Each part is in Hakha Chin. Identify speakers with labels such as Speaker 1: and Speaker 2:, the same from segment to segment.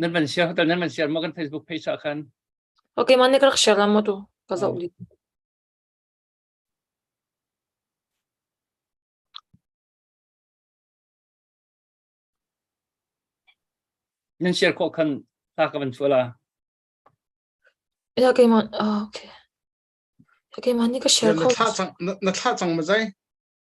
Speaker 1: Nan van
Speaker 2: share hotel nan van share maw kan Facebook page ah khan? Ok, ma nih ka
Speaker 1: rak share la maw tu? Ka zoh dih.
Speaker 2: Nan share khawh khan ta ka van chuah la. Ok,
Speaker 1: ma ah, ok. Ok, ma nih ka share Na khawh. thlah cang na thlah cang
Speaker 3: ma zai?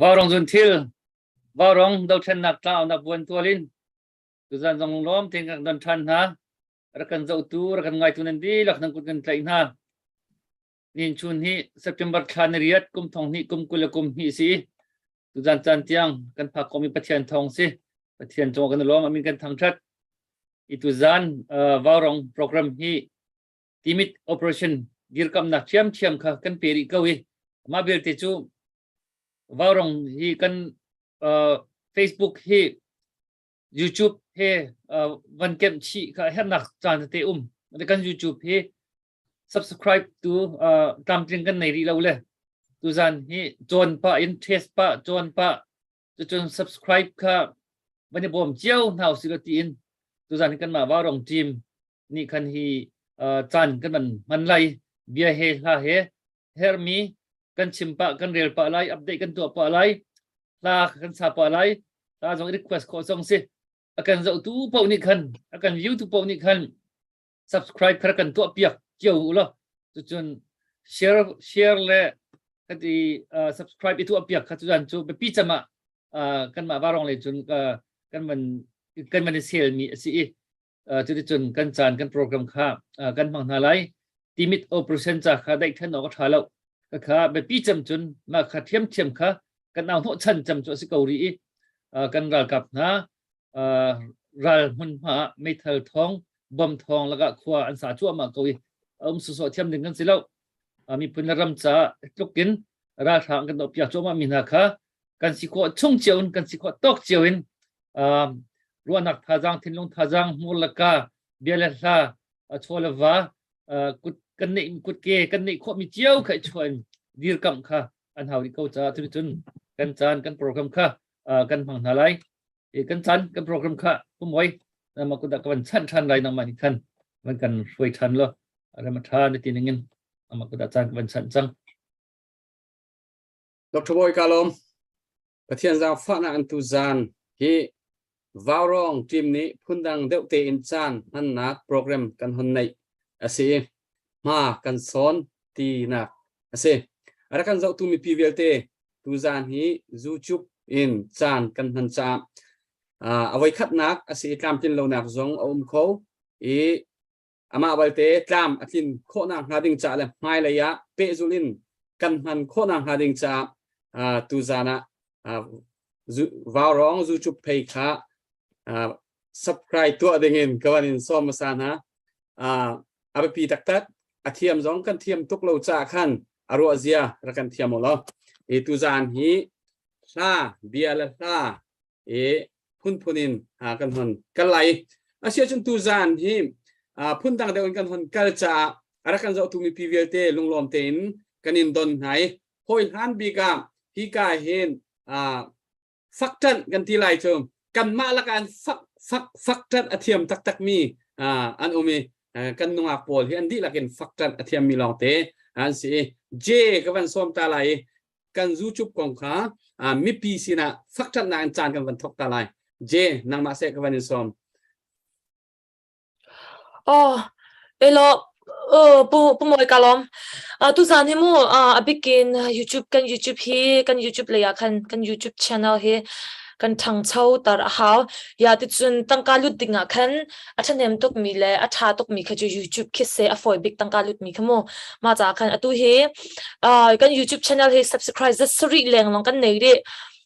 Speaker 2: Vaurong zun thil, vaurong dothlennak tlaonak buan tual in tuzan zong lawm ten kan don than hna rakan zotu rakan ngaitu nan di lak nang kut kan tlai hna nin chun hi september thla ni riat kum thong ni kum kul kum ni si tuzan chan tiang kan phak komi pathian thong si pathian chong kan lawm amin kan thang that itu zan vaurong program hi timit operation dirkamnak thiamthiam kha kan pe rih ko i mah vialte cu vaurong hi kan uh, facebook hi youtube he uh, van kem chi kha hernak caan te um kan youtube hi subscribe tu uh, tlamtling kan nei rih lo le tuzan hi chon pa in trace pa chon pa Cucun subscribe kha van i bawm cio hna usih ti in tuzan hi kanmah Varong team nih khan hi caan kan van hman lai bia he hla he hermi kan chim pah kan rel pah lai update kan tuah pah lai hla kan sa pah lai hla zong request khawh song si akan zohtu paoh nih khan akan view tu paoh nih khan subscribe kha kan tuah piak cio u la cucun share share le kati uh, subscribe itu piak kha cuan cu biapi cama uh, kanmah varong le cun uh, kan man kan man sel mi asi i cuti cun kan caan kan program kha kan hmang hna lai timit operation cha kha dai than ok tha lo ka kha biapi cam cun ma kha thiam thiam kha kan au no chan cham chu asi ko ri i kan ral kap hna ral hmunhma ah meithal thawng bom thawng lakah khua an sa cuahmah ko i um sawsawh thiam ding kan si lo miphun le ram ca tlukin ralhrang kan doh piak cuahmah mi hna kha kan si khawh chung cio in kan si khawh tawk cio in ruahnak thazaang thinlung thazaang hmur le ka bia le hla chaw le va kut kan neih kut ke kan neih khawh mi cio kha i chuah in dirkamh kha an hau rih ko caah cuticun kan caan kan program kha kan hmang hna lai kan chan kan program kha kumoi nama kuda kan chan than lai nama ni khan man kan hruai than lo rama tha ni tin ngin ama kuda chan kan chan chang
Speaker 3: Dr. Boy Kalom Pathian zang fa na antu zan hi Vaurawng team nih phundang deuh tein caan hmannak program kan hun neih a si i hma kan sawn tinak a si. A rak kan zohtu mipi vialte tuzaan hi YouTube in caan kan hman caah uh, a voi khatnak a si i tlamtlin lonak zong a um kho i amah balte tlam a tlin khawhnak hnga ding caah le hmailei ah pehzul in kan hman khawhnak hnga ding caah tuzan ah vaurong zucup phei kha subscribe tuah ding in ka van in sawm hmasa hna a biapi taktak a thiam zong kan thiam tuk lo caah khan a ruah zia ra kan thiam lo i tuzan hi hla bia le hla i phunphun in kan hon kal lai asiahcun tuzan hi phundang deuh in kan hon kal caah a rak kan zohtu mipi vialte lunglawm tein kan in don hna i hawi hlan bik ah hi ka hin fak ṭanh kan ti lai cu kanmah lakan fak fak fak ṭanh a thiam taktak mi an um i kan nungak pawl hi an dihlak in fak ṭanh a thiam mi lawngte an si i je ka van sawm ta lai i kan zu cup kong kha mipi sinah fak ṭhatnak in caan kan van thawk ta lai je nangmah seh ka van in sawm
Speaker 1: oh elo uh pu pu moi kalom uh tu zan hi mu uh abikin youtube kan youtube hi kan youtube le ya khan kan youtube channel hi kan thang chau tar a hau ya ti chun tangka lut ding a khan A ṭhahnem tukmi le a ṭha tukmi kha cu YouTube khi seh a fawi bik tangka lutmi kha mu. Mah caah khan atu hi ah, kan YouTube channel hi subscribe za sarih lengmang kan nei rih.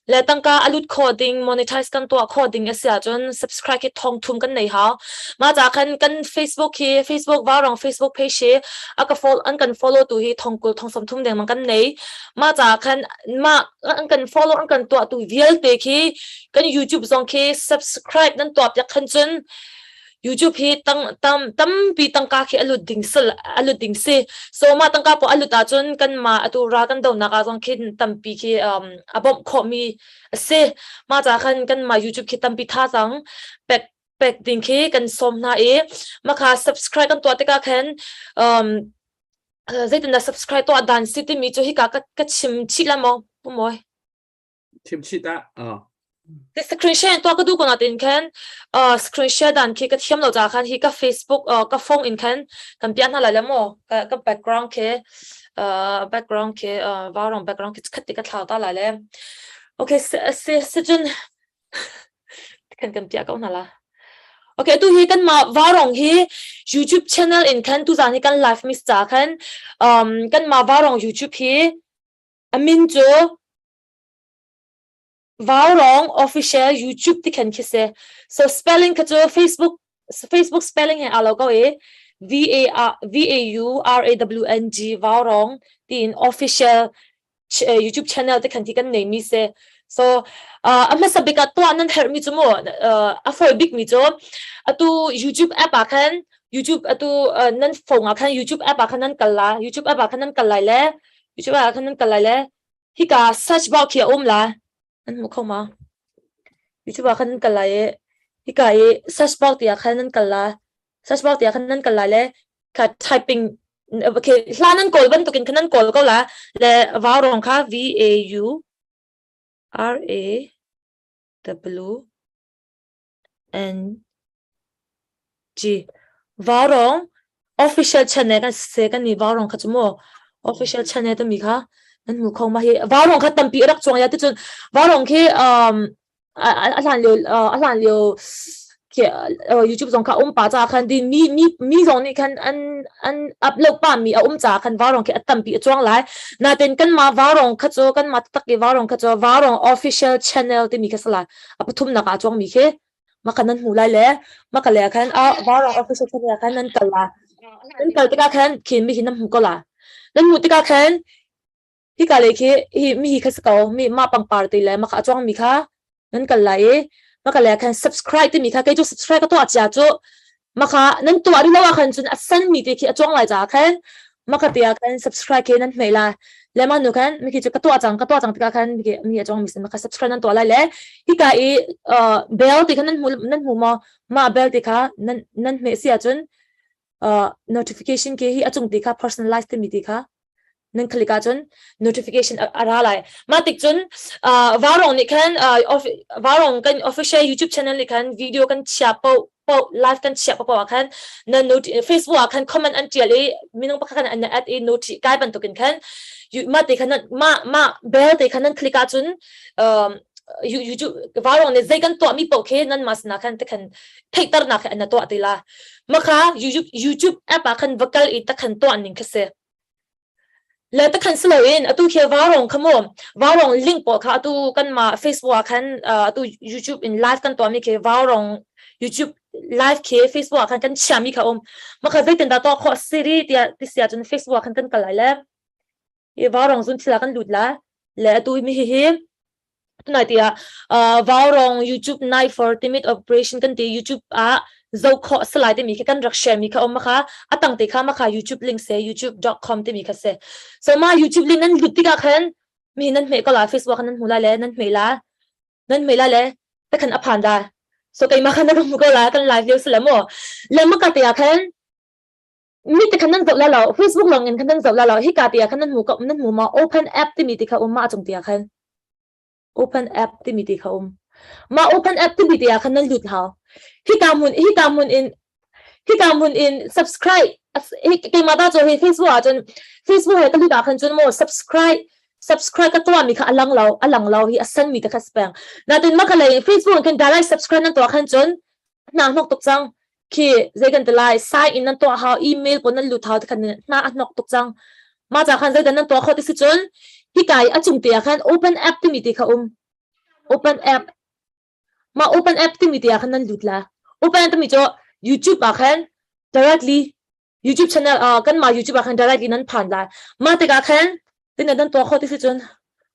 Speaker 1: Le tangka a lut kho ding, monetize kan tuah kho ding a si ahcun subscribe hi thongthum kan nei hau. Mah caah khan kan Facebook hi, Facebook Varang Facebook page hi a ka follow, an kan follow tu hi thongkul thongsam thum dengmang kan nei. Mah caah khan mah an kan follow, an kan tuah tu vialte khi kan youtube zong khi subscribe nan tuap ya khan cun youtube hi tang tam tampi tangka khi alut ding sal alut ding si so ma tangka po alut a cun kan ma atu ra kan do nak a zong khi tampi khi um abom kho mi ase ma cha khan kan ma youtube khi tampi tha chang pek pek ding khi kan som na e makha subscribe kan to te ka khan um zeitin da subscribe to dan si ti mi chu hi ka ka chim chi la mo pumoi
Speaker 3: thimchit ah
Speaker 1: Ti screenshot tua ka du ko na tin khan screenshot dan khi ka thiam lo ja khan hi ka Facebook ka phone in khan kan pian na la le mo ka background ke background ke varong background ke khat ti ka thlau ta la le okay se se jun kan kan pia ko na la okay tu hi kan ma varong hi youtube channel in khan tu zan hi kan live miss cha khan kan ma varong youtube hi A min cu Vaurawng official YouTube ti khan khi si. So spelling kha cu Facebook Facebook spelling he aa lo ko i V A V A U R A W N G Vaurawng tiin official YouTube channel te khan ti kan nei mi se. So uh, a hmasa bik ah tuah nan herh mi cu mu uh, a foi bik mi cu atu YouTube app ah khan YouTube atu uh, nan phone ah khan YouTube app ah khan nan kal la YouTube app ah khan nan kal lai le Micu ah khan nan kal lai le hika search box khi a um lai an hmu kho ma Micu ah khan nan kal lai i hika i search box ti ah khan nan kal lai search box ti ah khan nan kal lai le ka typing okay hla nan kawl bantuk in khan nan kawl ko la le vau rong kha v a u r a w NG. Vaurong official channel kan se kan ni vaurong kha chu maw official channel tami kha nan hmu kho ma hi vaurong kha tampi rak chuang ya ticun vaurong khi um a hlan lio a hlan lio khi YouTube zong kha um pa ca khan di mi mi mi zong nih khan an an upload pa mi a um ca khan vaurong khi a tampi a chuang lai natin kan ma vaurong kha chu kan ma tak i vaurong kha chu vaurong official channel timi kha salai a pathumnak aa chuangmi khi maka nan hmu lai le maka le khan a varang officer khan le khan nan kal la nan kal tikah khan khin mi hi nan hmu ko la nan hmuh tikah khan hi ka le khi hi mi hi kha ko mi ma pangpar te le maka a chuang mi kha nan kal lai i maka le khan subscribe ti mi kha kei chu subscribe ka to achia chu Maka nan tuah rih lo ahkhan cun a sanmi te khi a cuang lai caah khan maka te ah khan subscribe khi nan hmai lai. Le manu khan miki cu ka tuah cang, ka tuah cang tikah khan miki mi a cuangmi sin maka subscribe nan tuah lai le hika i uh, bell ti kha nan hmu nan hmu maw? Mah bell ti kha nan nan hmeh si ahcun uh, notification ke hi a cung ti kha personalize timi ti kha nan khalik ahcun notification a ra lai mah tik cun varong nih khan varong kan official youtube channel nih khan video kan chia po po live kan chia po ah khan nan noti facebook ah khan comment an tial i minung pakhat khan an at i noti kai bantuk in khan ma te khan ma ma bell te khan nan click ahcun youtube varong nih zei kan tuah mi poh khi nan mas na khan te khan theihternak he na tuah ti la makha youtube youtube app ah khan va kal i takhan tuah ning kha se le takhan silo in atu khi varong khamu varong link po kha atu kan ma facebook ah khan atu youtube in live kan tuah mi khi varong youtube live khi facebook ah khan kan chia mi kha om makha zeitin da to kho siri tia ti sia chun facebook khan kan kal lai le i vaurong cun thil ah kan lut lai le atu mi hihi tunai tiah uh, vaurong youtube night for timid operation kan ti youtube ah zoh khawh salai timi khi kan rak share mi kha om makha atang te kha makha youtube link se youtube.com timi kha se so ma youtube link nan lut tika khan mi nan hme ko la facebook nan hmu la le nan hme la nan hme la le ta khan aphan da so kai ma khan rum ko la kan live leo salamo le ma ka te khan mi te khan nan zoh la lo facebook lawng in khan nan zoh la lo hika ti ah khan nan hmu ko nan hmu ma open app timi ti kha um ma chung ti ah khan open app timi ti kha um ma open app timi ti ah khan nan lut hao hika mun hika mun in hika mun in subscribe keima ta cho hi facebook ah cun facebook he talika khan cun mo subscribe subscribe ka tua mi kha alang lo alang lo hi asan mi te kha spang na tin ma khalai facebook kan direct subscribe nan to khan cun na nok tuk chang khi zei kan ti lai sign in nan tuah hau email ko nan lut hau te khan na a nok tuk cang ma cha khan zei dan nan tuah kho ti si cun hi kai a chung te ah khan open app timi ti kha um open app ma open app timi ti ah khan nan lut la open app timi cho youtube ah khan directly YouTube channel uh, kanmah YouTube ah khan direct in an phan lai mah tikah khan tin nan to kho ti si cun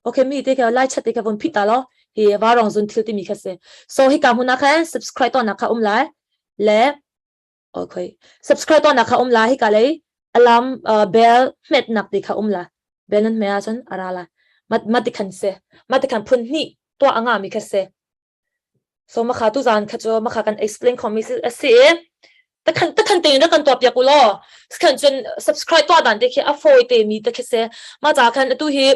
Speaker 1: okay mi te ke lai chat te ke von phit ta lo hi wa rong zun thil ti mi kha se so hi ka huna khan subscribe to na kha um lai le okay subscribe to na kha um lai hi ka lei alarm uh, bell met nak ti kha um la bell nan me a cun ara la mat mat ti khan se mat ti khan phun ni to anga mi kha se So makha tu zan kha cu makha kan explain khomi a si i takhan takhan tein rak kan tuah piak u law sikhan cun subscribe tuah dan te khi a fawi te mi te khi se ma ca khan atu hi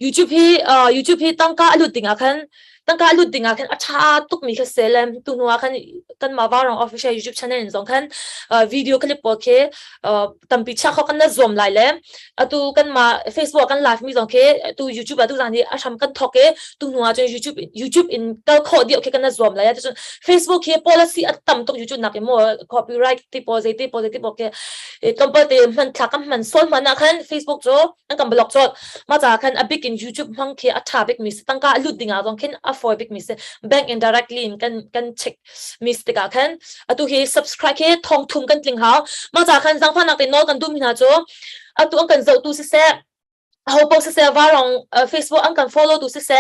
Speaker 1: youtube hi uh, youtube hi tangka a lut ding ah khan tangka a lut ding ah khan a tha tuk mi kha se lem tu nu ah khan kan ma wa rong official youtube channel in zong khan uh, video clip po khi uh, tampi chak khok kan na zuam lai le atu kan ma facebook kan live mi zong ke tu youtube tu zang ni a sham kan thok ke tu hnu ah youtube youtube in tal kho di okay kan na zuam lai tu facebook he policy at tam tok youtube nak mo copyright ti positive ti positive okay e tompal te man thla kam man sol man na khan facebook cho an kan blog cho ma cha khan a big in youtube hmang khi a tha big mi tangka lut dinga zong khin a foi big mi se bank indirectly in kan kan check mis tikah khan atu hi subscribe hi thong thum kan tling hau ma cha khan zangfa nak tin nawl kan dum hna chu atu an kan zotu si se ho po si se warong facebook an kan follow tu si se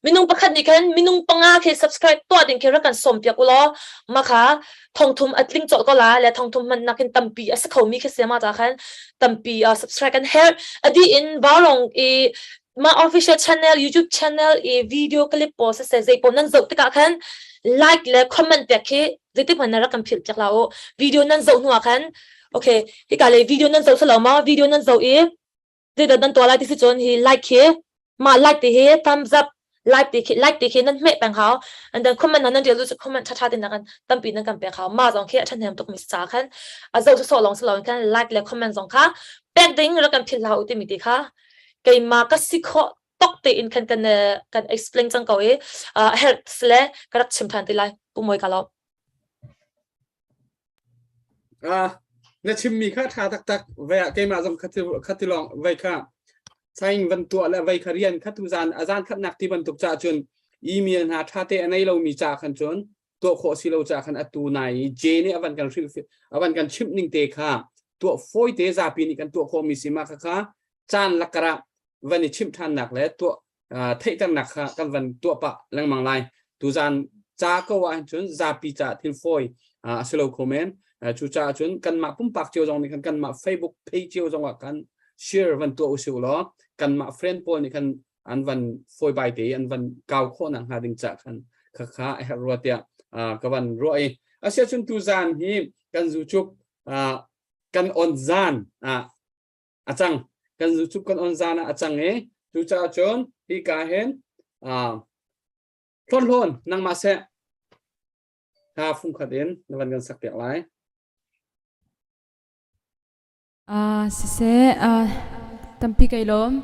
Speaker 1: minung pakhat ni khan minung panga ke subscribe to ding ke rakan som piak ulo makha thongthum atling chol ko la le thongthum man nakin tampi asa khomi ke sema ta khan tampi subscribe kan her adi in warong i mah official channel YouTube channel i video clip pawl sasai zei pawl nan zoh tikah khan like le comment pek khi zeitik hmanh na rak kan philh piak la u video nan zoh hnuah khan okay hika le video nan zoh salo ma video nan zoh i zei dan to lai ti si chon hi like khi ma like ti hi thumbs up like ti khi like ti khi nan me peng hao and then comment nan real ju comment tha tha tin na kan tampi nan kan pe khao ma zong khi a than hem tuk mi sa khan a zo so long so long kan like le comment zong kha pek ding ra kan phil hao ti mi ti kha keimah ka si khawh tok tein khan kan kan explain cang ko i health le ka rak chim than ti lai pumawi ka lo na chimmi kha tha taktak ve ah keimah zong khati long ve kha saing van tua le ve kha rian kha
Speaker 3: tu zan azan khat nak ti bantuk cha chun email hna tha te anei lomi cha khan chun tuah khawh si lo ca khan atu nai i J nih avan kan avan kan chimh ning te kha tuah fawite zapi nih kan tuah khawhmi si ma kha kha caan lakar ah van i chimh ṭhannak le tuah theihternak kha kan van tuah pah lengmang lai tu zan ca ko ah cun zapi ca thil fawi a si lo kho men cu caah cun kanmah pumpak cio zong nih khan kanmah Facebook page cio zong ah kan share van tuah usih law kanmah friend pawl nih khan an van fawi bai te an van kau khawh na hnga ding cha khan kha kha her ruwa tia ka van ruwa i asia chun tu zan hi kan zu chuk kan on zan a chang kan zu chuk kan on zan a chang e tu cha chon hi ka hen hlon hlon nang ma se
Speaker 4: ha fung khat in na van kan sak te lai Ah siseh ah tampi kai lawm.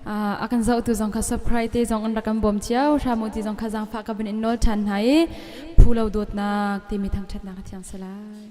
Speaker 4: Ah a kan zohtu zong kha surprise te zong an rak kan bawm cio hram u ti zong kha zangfah ka bin in nawl ṭhan hna i phu lo dawtnak timi thangṭhatnak ka thiang sa lai.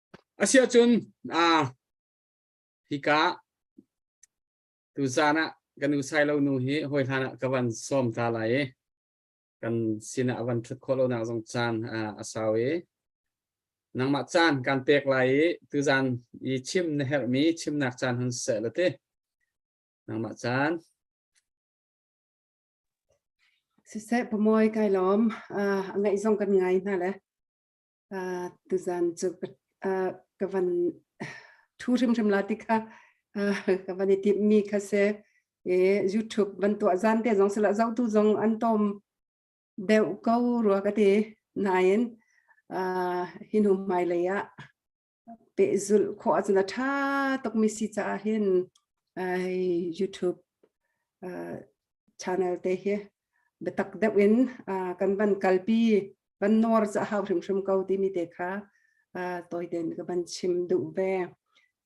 Speaker 3: Asiahcun aa hika tuzan ah kan u Sailo nu hi hawi hlan ah ka van sawm ta lai i kan sinah a van ṭhut khawh lonak zong caan a sau i nangmah caan kan pek lai i tuzan i chim na herhmi chimnak caan hun seh la ti
Speaker 5: nangmah caan siseh pamawi kai lawm a ngaih zong kan ngai hna le tuzan cu ka van thu hrimhrim la ti kha ka van i tip mi kha se youtube van tuah zan te zong sila zau tu zong an tom deu ko rua ka ti nain hinum hmai lei ah pehzulh khawh ahcun a ṭha tukmi si caah hin YouTube channel te hi biatak deuh in kan van kalpi van nawr ca hau hrimhrim ko timi te kha tawi ten ka van chim duh ve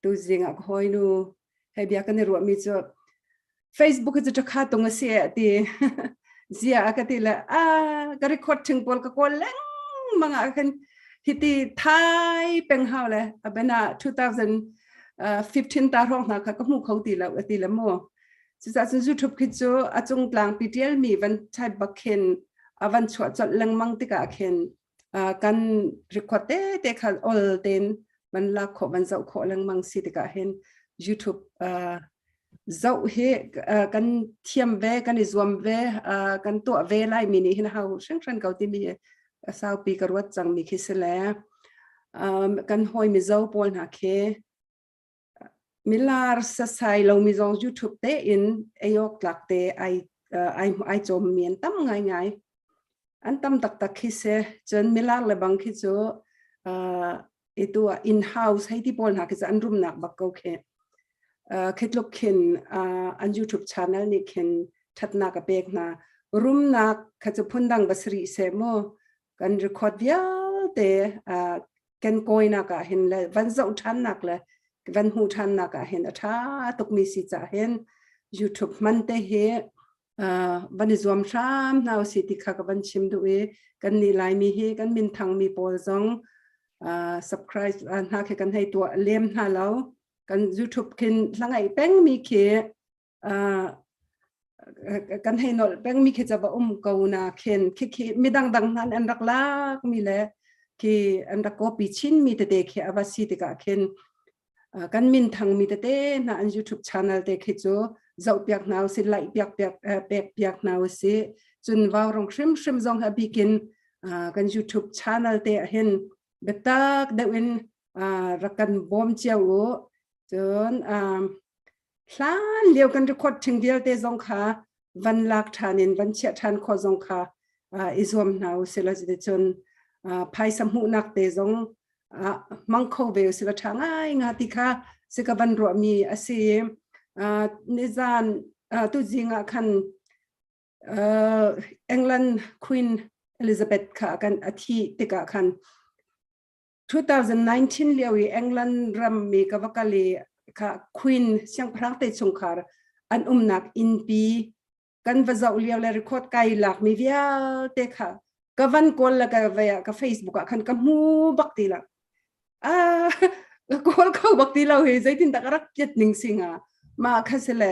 Speaker 5: tuzing ah ka hawinu He bia kan i ruahmi cu Facebook cu cu kha tung a si a ti. Zia a ka ti le a ka record thing pawl ka kawl leng manga kan hiti thai peng hau le abena 2015 ta rong hna kha ka hmu khong ti lo ati le mo cucah cun YouTube khi cu a cung tlang pi tial mi van thai bakhin avan chuah chol lengmang tikah khin uh, kan record te te khan ol ten man la kho man zau kho lengmang si tika hin youtube uh, zau hi uh, kan thiam ve kan i zuam ve uh, kan to ve lai mi ni hin hau hrang hrang ko ti mi sau pi ka ruat chang mi khi se le um, kan hoi mi zo pawl hna khi milar sasai lo mi zong YouTube te in ayok tlak te ai ai ai chom mi an tam ngai ngai an tam tak tak khi se chun milar le bang khi chu itu in house hei ti pol na khi an rum nak bak ko khe khetluk khin an YouTube channel ni khin thatna ka pek na rumnak kha chu phundang basri se mo kan record vialte uh, kan koinak ah hin le van zoh thannak le van hmu thannak ah hin a tha tukmi si cha hin youtube man te hi uh, van i zuam hram hna si ti kha ka van chim du i kan ni lai mi hi kan min thang mi pawl zong uh, subscribe uh, hna khi kan hei tua lem hna lo kan youtube khin langai peng mi khi kan hei nol pengmi khi chava um ko na khin khi khi mi dangdang nan an rak lak mi le khi an rak copy chin mi tete khi ava si tika khin kan min thang mi tete na an youtube channel te khi chu zau piak naw si lai piak piak pek piak naw si chun waw rong shrim shrim zong ha bikin kan youtube channel te ahin betak deuin rakan bom chiau cun hlan lio kan record thing vialte zong kha van lak ṭhan in van chiah ṭhan khawh zong kha uh, i zuam hna usila cuticun uh, phaisa hmuhnak te zong uh, hmang kho ve usila ṭha ngai nga ti kha si ka van ruahmi a si uh, nizan uh, tu zing ah khan uh, England Queen Elizabeth kha kan athi tikah khan 2019 lio i England ram mi ka va kal i kha Queen siangpahrang te chung khar an umnak innpi kan va zoh lio le record kai lak mi vialte kha ka van kawl la ka vaya ka Facebook ah khan ka mu bak ti la a ka kawl kho bak ti lo hi zeitin tak rak kiat ning singa ma kha sele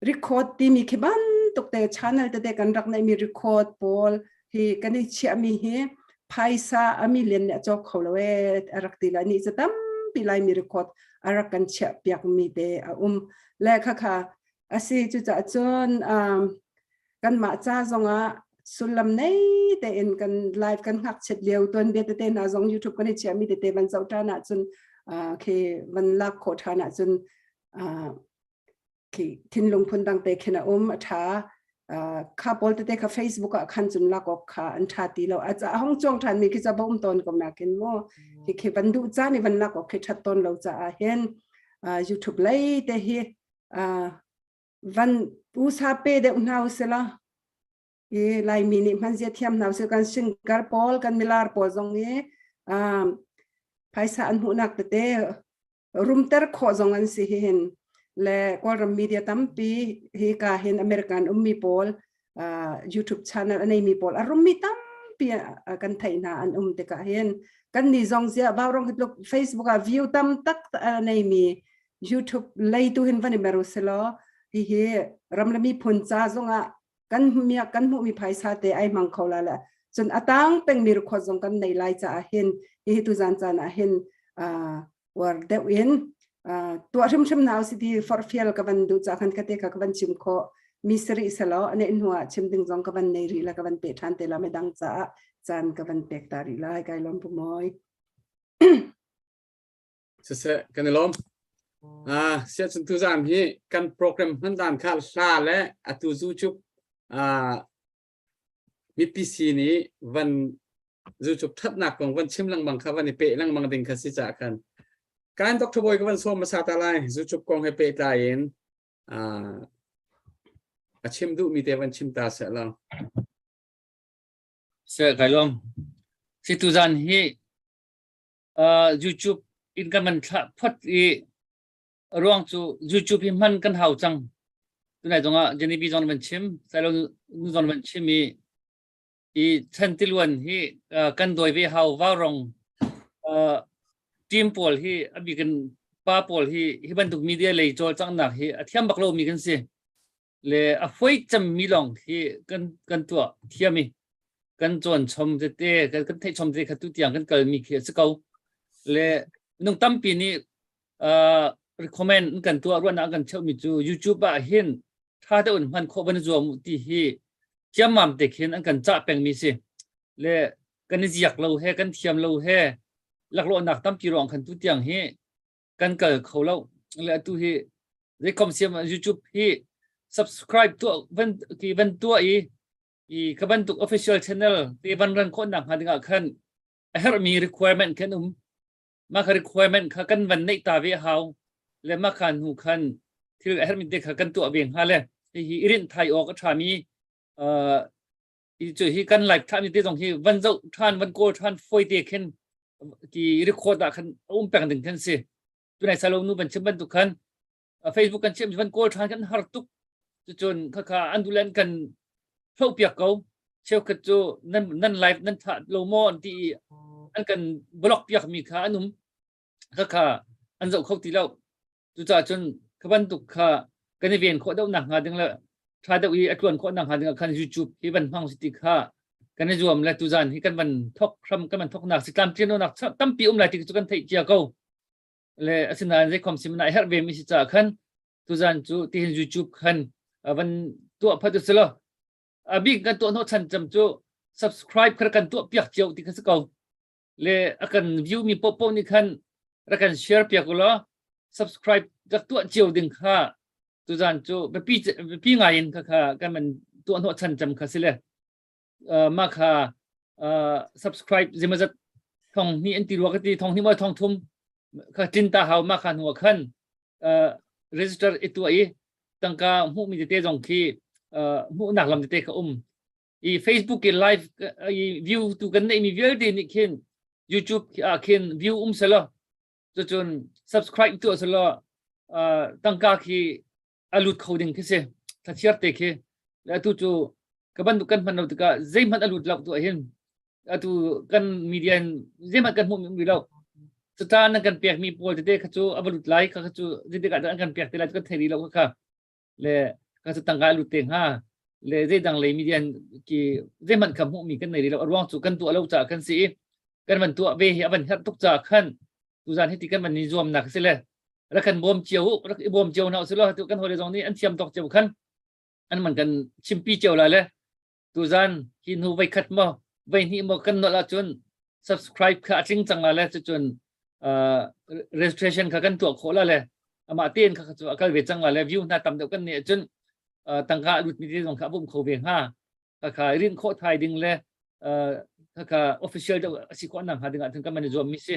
Speaker 5: record timi khi bantuk te channel te te kan rak nei mi record pawl hi kan i chia mi hi phaisa ami len ne cho kho lo e arak ti la ni cha tam pi lai mi record arak kan chia piak mi te a um le kha kha asi chu cha chun kan ma cha zonga sullam nei te in kan live kan hak chet leu ton be te na zong youtube kan i chia mi te te ban chau ta na chun khi van lak kho tha na chun thinlung phun dang te khin a um a tha kha pawl te kha facebook ah khan chun lak ok kha an tha ti lo a cha hong chuang than mi khi cha bom ton ko na kin mo hi khi ban du cha ni ban lak ok khi that ton lo cha a hen youtube lei te hi van usa pe de hna usela i laimi nih hman zia thiam hna sih kan singer paul kan milar pawl zong i phaisa an hmuhnak tete rumter khawh zong an si hin le kawlram media tampi hi ka hin american ummi pawl youtube channel anei mi pawl arummi tampi kan thai hna an um te ka hin kan ni zong zia baw rong hitluk facebook a view tam tak nei mi youtube lei tu hin van i meru selo hi hi ramlami phun cha zong ah kan miak kan hmuhmi phaisa te ai mang kho la la cun atang pengmi record zong kan nei lai caah hin hi tu zan chan ah hin war deuh in tua hrim hrim na si ti farfial ka van du cha khan ka te ka van chim kho mi sari selo ane hnuah chim ding zong ka van nei ri la ka van pe than te la me dang cha chan ka van pek ta ri lai kai lom pumoi
Speaker 3: siseh kan i lawm ah siah chun tu zam hi kan program hman dan kha hla le atu zu chup ah MPC ni van zu chup that nak kong van chim lang bang kha van i pe lang bang ding kha si cha khan kan doctor boy ka van som masa ta lai zu chup kong he pe ta in ah
Speaker 2: a chim du mi te van chim ta se lo se kai lom si tu zan hi YouTube in kan man thlah phot i ruang cu YouTube hi hman kan hau cang tunai zongah Genevieve zong man chim Sailo nu zong man chim i i Chantiluan hi kan doi ve hau vaurong team pawl hi abi kan pa pawl hi hi bantuk media lei chawl cangnak hi a thiam bak lo mi kan si le a hoi cemmi lawng khi kan kan tuah thiam i kan chuan chom tete kan kan theih chom te kha tu tiang kan kalmi khi a si ko le nung tampi nih uh, recommend kan tuah ruahnak kan cheuhmi cu youtube ah hin tha te un hman khawh ban zuam ti hi thiamam te khin an kan cha pengmi si le kan i ziak lo he kan thiam lo he laklawhnak tampi rong khan tu tiang hi kan kal kho lo le atu hi zeikom siam youtube hi subscribe tu van ki van tua i i ka bantuk official channel te van ran ko nak hnga dingah khan a her mi requirement khan um ma ka requirement kha kan van nei ta ve hau le ma khan hu khan thil a her mi te kha kan tu ve nga le hi irin thai ok a tha mi uh cu hi kan like than ni te zong hi van zoh than van kawl than foi te khen ki record da khan um peng ding khan si tu nai salo nu ban chim ban tu khan facebook kan chim van kawl than kan har tuk chu chun kha kha andulan kan tho piak ko cheu khat chu nan nan live nan tha lo mo an ti an kan block piak mi kha anum kha kha an zo kho ti lo Cucaah cun kha bantuk kha kan i ven khawh deuh nakhnga ding le ṭha deuh i a ṭuan khawh nakhnga dingah khan YouTube hi van hmang si ti kha kan i zuam le tuzan hi kan van thok hram kan van thoknak si tlamtlinlonak tampi um lai ti cu kan theih cia ko le asinain zeikhom sim na herh vemi si caah khan tuzan cu tihin YouTube khan van tuah phat u lo a bik kan tuah hnawh chan cam cu subscribe kha kan tuah piak cio ti kha si ko le a kan view mi popo nih khan ra kan share piak ulaw subscribe rak tuah cio ding kha tu zan cu biapi biapi ngai in kha kha kan man tuah hnawh chan cam kha si le ma kha subscribe zimazat thong ni an ti ruwa ka ti thong ni mo thong thum kha tinta hau ma kha nuwa khan register itu ai tangka mu mi te zong khi mu nak lam te ka um i facebook i live i view tu kan neih mi vialte nih khin youtube ah khin view um selo cun subscribe tu selo tangka khi alut kho ding khi si thlachiar te khi atu chu ka ban kan hman lo tikah zei hman alut lo tu hin atu kan media zei hman kan hmu mi lo cutan nan kan pek mi pawl tete kha chu avalut lai kha kha chu zite ka kan pek te lai kan thei lo kha kha le kan sa tangkai lut te hnga le zeidang lei media ki zeihmanh ka hmuh mi kan nei lo ruang cu kan tuah lo ca kan si i kan van tuah ve hi avan herh tuk ca khan tuzan hi ti kan van ni zuam nak si le rak kan bawm cio rak i bawm cio na si lo tu kan hole zong ni an thiam tok cio khan an man kan chimpi cio la le Tuzan hi nu voi khat maw voi hnih maw kan nolh ahcun subscribe kha a tling cang la le cucun registration kha kan tuah khawh la le amah tein kha cu a kal ve cang la le view hna tam deuh kan nih ahcun tangka lut mi te zong kha a bum kho ve hnga khakha rin khawh thai ding le khakha official deuh a si khawh nak hnga ding ah kan man i zuam mi si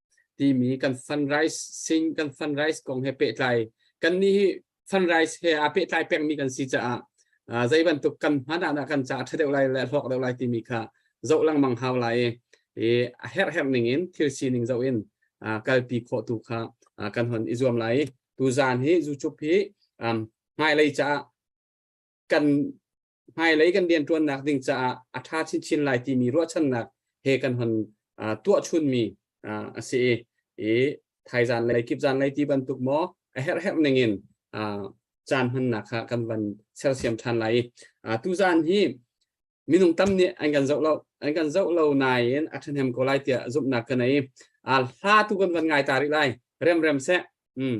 Speaker 3: timi kan funrise sing kan funrise kong he pehtlai kan ni hi funrise he a pehtlai pengmi kan si caah zei bantuk kan hmanah dah kan caah ṭhadeuh lai le hlawk deuh lai timi kha zoh lengmang hau lai i a herher ning in thil sining zoh in kalpi khawh tu kha kan hon i zuam lai tu zan hi zuchup hi hmailei caah kan hmailei kan rianṭuannak ding caah a ṭha chinchin lai timi ruahchannak he kan hon tuahchunmi a si i i thaizan lei kip zan lei ti bantuk maw a herhherh ningin caan hmannak kha kan van sersiam ṭhan lai i tuzan hi minung tam nih an kan zoh lo an kan zoh lo nain a ṭhahnem ko lai tiah zumhnak ka nei a hla tu kan van ngai ta rih lai rem rem seh mm.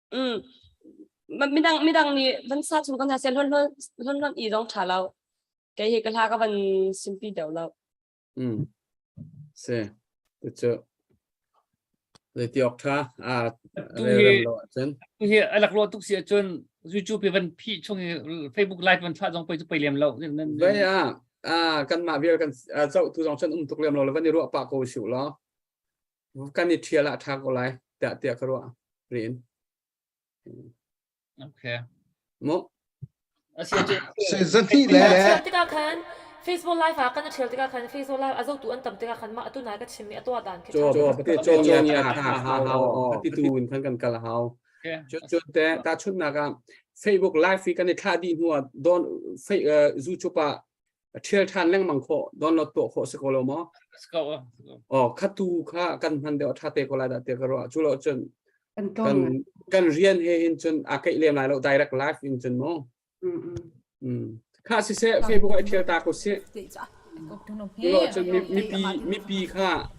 Speaker 3: mm midang midang nih
Speaker 6: van sa chung kan sa sen lon lon lon i dong tha lo kei hi ka hla ka van simpi deu lo mm
Speaker 3: se tu chu le ti ok tha a le
Speaker 2: ram lo chen hi alak ro tuk si chun youtube van phi chung hi facebook live van tha jong poi chu poi lem lo ba ya a kan ma vial kan chau tu jong chen um
Speaker 3: tuk lem lo le van ni ru pa ko siu lo kan i ṭhial ah ṭha ko lai tiah tiah ka ruah rin
Speaker 2: okay mo
Speaker 3: sai
Speaker 7: zani le tikah khan
Speaker 1: Facebook live ah kan ṭhial tikah khan Facebook live a zotu an tam tikah khan mah atu nai ka chim mi a tua dan khi cho cho pate cho ni a tha hau
Speaker 3: pati tu in khan kan kal hau chun te ta chun na ka Facebook live hi kan i thla di hnuwa don zu chupa a thial than lengmang kho don lo to kho se ko lo mo ah. oh khatu kha kan hman de tha te ko la da te ka ro chu lo chun kan kan rian he hin chun a kai lem lai lo direct live in chun mo mm kha si se facebook ai thial ta ko se lo chun mi pi mi pi kha